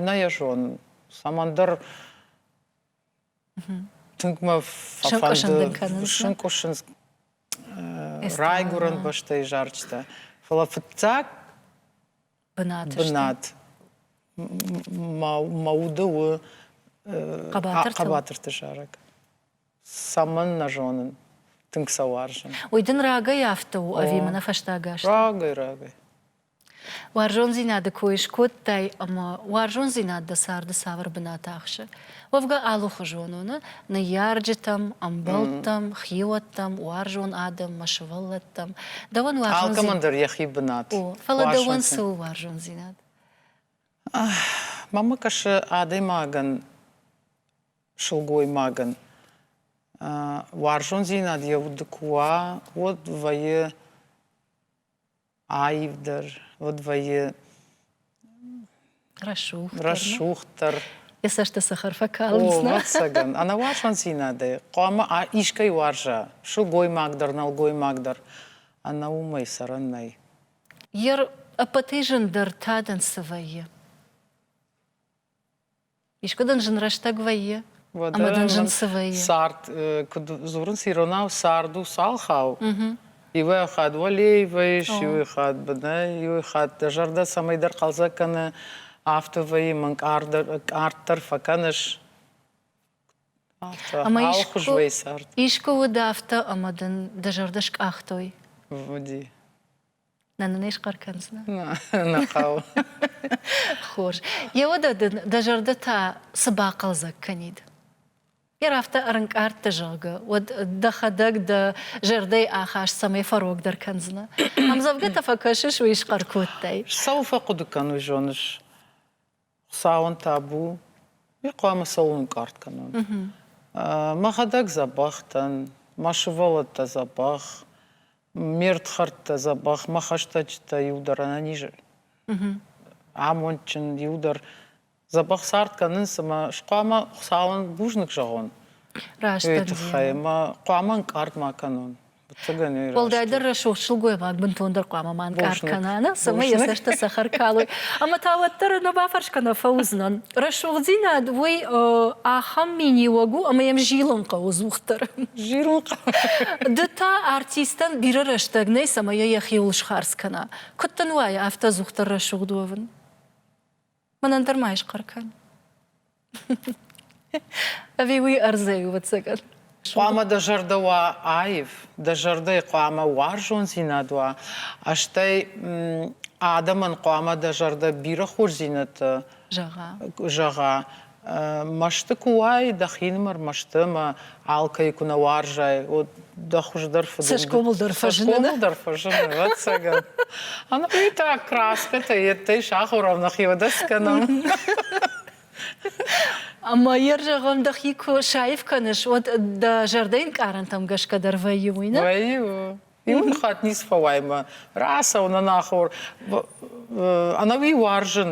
Нӕ йӕ зонын. Цӕмӕндӕр Тынг мӕ фӕфӕнды сынкъуысынц райгуырӕн бӕстӕйы зарджытӕ. Фӕлӕ фыццаг бынат бынат мӕ уды у хъӕбатырты зарӕг. Цӕмӕн нӕ зонын. Тынг сӕ уарзын. Уый дын рагӕй афтӕ у ӕви мӕнӕ фӕстаг аз? Рагӕй, рагӕй. Уарзондзинады кой скодтай ӕмӕ уарзондзинад дӕ царды цавӕр бынаты ахсы? Уӕвгӕ алыхуызон у, нӕ? Ныййарджытӕм, ӕмбӕлттӕм, хиуӕттӕм, уарзон адӕммӕ, сывӕллӕттӕм. Дӕуӕн уарзондзинад. Алкӕмӕн дӕр йӕхи бынат. О, фӕлӕ дӕуӕн цы у уарзондзинад? Мамӕ кӕсы адӕймагӕн, сылгоймагӕн. Уарзондзинад йӕ уды куы уа, уӕд вӕййы аивдӕр, уӕд вӕййы рӕсугъддӕр. Рӕсугъддӕр. Йӕ цӕсты цӕхӕр фӕкалынц. О, ӕвӕццӕгӕн, ӕнӕуарзондзинадӕй хъуамӕ искӕй уарза, сылгоймагдӕр, нӕлгоймагдӕр, ӕнӕ уымӕй цӕрӕн нӕй. Йе рппӕтӕй зындӕр тадӕн цы вӕййы? Искуы дын зын рӕстӕг вӕййы? Ӕмӕ дын зын цы вӕййы? Цард, куыд дзурынц иронау, цард у цалхау. Иуӕй хатт уӕлей вӕййыс, иуӕй хатт бынӕй, иуӕй хатт дӕ зӕрдӕ цӕмӕйдӕр хъӕлдзӕг кӕны, афтӕ вӕййы, мӕн къарддӕр фӕкӕныс. Ӕмӕ алхуызвӕй цард. Искуы уыд афтӕ, ӕмӕ дын дӕ зӕрдӕ скъахтой? Уыди. Нӕ нын исхъӕр кӕндзынӕ? Нӕ хъӕуы. Хорз. Йӕ уӕдӕ дын дӕ зӕрдӕ та цы бахъӕлдзӕг кӕнид? Йӕ афтӕ ӕрынкъардты, зӕгъгӕ, уӕд дӕхӕдӕг дӕ зӕрдӕйы ахаст цӕмӕй фӕрогдӕр кӕндзынӕ? Ӕмдзӕвгӕтӕ фӕкӕсыс, уый схъӕр кодтай? Цӕуыл фӕхъуыды кӕн, уый зоныс? Хуцауӕн табу, ми хъуамӕ цӕуон ӕнкъард кӕнон. Мӕхӕдӕг дзӕбӕх дӕн, мӕ сывӕллӕттӕ дзӕбӕх, ме рдхӕрдтӕ дзӕбӕх, мӕ хӕстӕджытӕ иу дӕр ӕнӕниз амондджын, иу дӕр дзӕбӕх цард кӕнынц ӕмӕ хъуамӕ Хуыцауӕн бузныг зӕгъон. Раст. Тыххӕй ӕмӕ хъуамӕ ӕнкъард ма кӕнон. Уӕлдайдӕр рӕсугъд сылгоймаг бынтондӕр хъуамӕ ма ӕнкъард кӕна, нӕ, цӕмӕй йӕ цӕстытӕ цӕхӕр калой. Ӕмӕ та уӕддӕр нӕ бафӕрс кӕнӕ фӕуыдзынӕн. Рӕсугъддзинад уый ахӕм миниуӕг у, ӕмӕ йӕм зилын хъӕуы зухдӕр. Зилын хъӕуы. Ды та артистӕн бирӕ рӕстӕг нӕй, цӕмӕй йӕ йӕхиуыл схардз кӕна. Куыд дын уайы афтӕ дзухдӕр рӕсугъд уӕвын? мӕнӕн дӕр ма исхъӕр кӕн ӕви уый ӕрдзӕй у ӕцӕгӕн хъуамӕ дӕ зӕрдӕ уа аив дӕ зӕрдӕйы хъуамӕ уарзондзинад уа стӕй адӕмӕн хъуамӕ дӕ зӕрдӕ бирӕ хорздзинӕдтӕ зӕгъа зӕгъа Мӕсты куы уай, дӕхинымӕр мӕсты ӕмӕ алкӕй куы нӕ уарзай, уӕд дӕ хуыздӕр фыды цӕсгомыл дӕр фӕзыны. Цӕсгомыл дӕр фӕзыны, ӕцӕгӕн. Ӕнӕуый та краскӕтӕ йеддӕй сахорау нӕхиуӕдӕс кӕнӕм. Ӕмӕ йӕ зӕгъӕм, дӕхи куы саив кӕныс, уӕд дӕ зӕрдӕ инкъарӕнтӕм гӕсгӕ дӕр вӕййы, уый нӕ? Вӕййы. Иуны хатт ницы фӕуай мӕ. Рацӕуын анахур. Ӕнӕуи уарзын,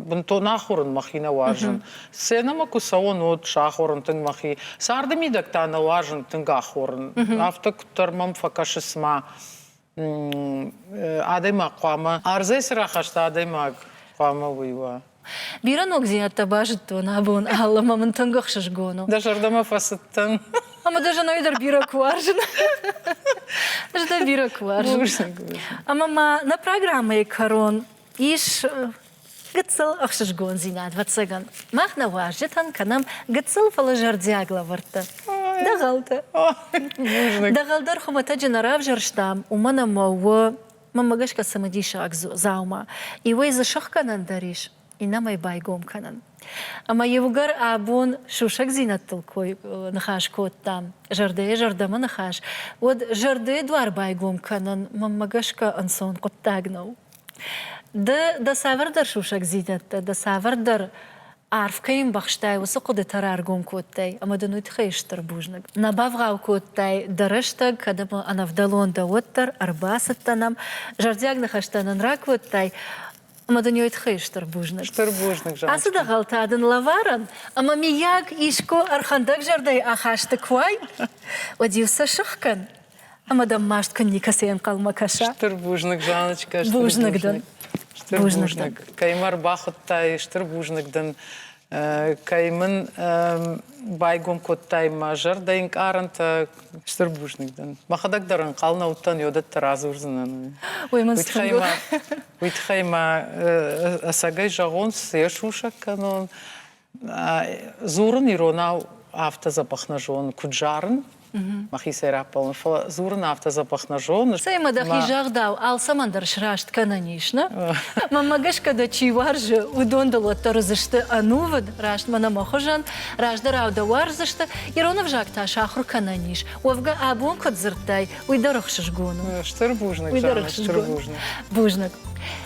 бынтон ахуырын мӕхи нӕ уарзын. Сценӕмӕ куы цӕуон, уӕд сахорын тынг мӕхи. Царды мидӕг та нӕ уарзын тынг ахорын. Афтӕ куыддӕр мӕм фӕкӕсыс мӕ адӕймаг хъуамӕ ӕрдзӕй цы рахаста адӕймаг хъуамӕ уый уа. Бирӕ ногдзинӕдтӕ базыдтон абон алы ӕмӕ мын тынг ӕхсызгон у. Дӕ зӕрдӕмӕ фӕцыдтӕн. Ӕмӕ дӕ зӕнӕй дӕр бирӕ куы уарзын. Ӕз дӕ бирӕ куы уарзын. Ӕмӕ ма нӕ программӕйы кӕрон ис гыццыл ӕхсызгондзинад. Вӕццӕгӕн, мах нӕ уазджытӕн кӕнӕм гыццыл, фӕлӕ зӕрдиаг лӕвӕрттӕ. Дӕгъӕлтӕ. Дӕгъӕл дӕр хуымӕтӕджы нӕ равзӕрстам, уымӕн ӕмӕ у Мӕмӕ гӕсгӕ цымыдисаг дзаума иуӕй дзы сыхгӕнӕн дӕр ис, иннӕмӕй байгом кӕнын. Ӕмӕ иугӕр абон сусӕгдзинӕдтыл кой ныхас кодтам, зӕрдӕйӕ зӕрдӕмӕ ныхас, уӕд зӕрдӕйы дуар байгом кӕнын мӕмӕ гӕсгӕ ӕнцон хъуыддаг нӕу. Ды дӕ цавӕрдӕр сусӕгдзинӕдтӕ, дӕ цавӕрдӕр Арв кӕй ӕмбӕхстай, уыцы хъуыдытӕ раргом кодтай ӕмӕ дын уый тыххӕй стыр бузныг. Нӕ бавгъау кодтай дӕ рӕстӕг, кӕд ӕмӕ ӕнӕвдӕлон дӕ, уӕддӕр ӕрбацыдтӕ нӕм, зӕрдиаг ныхӕстӕ нын ракодтай, ӕмӕ дын уый тыххӕй стыр бузныг. Стыр бузныг, Жанна. Ацы дӕгъӕлтӕ дын лӕварӕм, ӕмӕ, миййаг, искуы ӕрхӕндӕгзӕрдӕйы ахасты куы уай, уӕд-иу сӕ сых кӕн. Ӕмӕ дӕм маст кӕн никӕцы ӕнхъӕлмӕ кӕса. Стыр бузныг, Жаночкӕ, стыр бузныг. дӕн. Стыр бузныг. Кӕй мӕ рбахуыдтай, стыр бузныг дын. Кӕй мын байгом кодтай мӕ зӕрдӕ ӕнкъарӕнтӕ, стыр бузныг дын. Мӕхӕдӕг дӕр ӕнхъӕл нӕ уыдтӕн, уӕдӕттӕ радзурдзынӕн. Уый мын уый тыххӕй мӕ ӕцӕгӕй зӕгъон, цы йӕ сусӕг кӕнон, Дзурын иронау афтӕ дзӕбӕх нӕ зон, куыд зарын, мӕхицӕй раппӕлын, фӕлӕ дзурын афтӕ дзӕбӕх нӕ зон. Цӕй-ма дӕхи загъдау, алцӕмӕн дӕр сраст кӕнӕн ис, нӕ? Мӕнмӕ гӕсгӕ дӕ чи уарзы, уыдон дыл уӕддӕр уыдзысты ӕнувыд, раст мӕнӕ мӕ хуызӕн, раздӕрау дӕ уарздзысты, ирон ӕвзаг та сахуыр кӕнӕн ис, уӕвгӕ абон куыд дзырдтай, уый дӕр ӕхсызгон у. Стыр бузныг, Жаннӕ, стыр бузныг. Бузныг.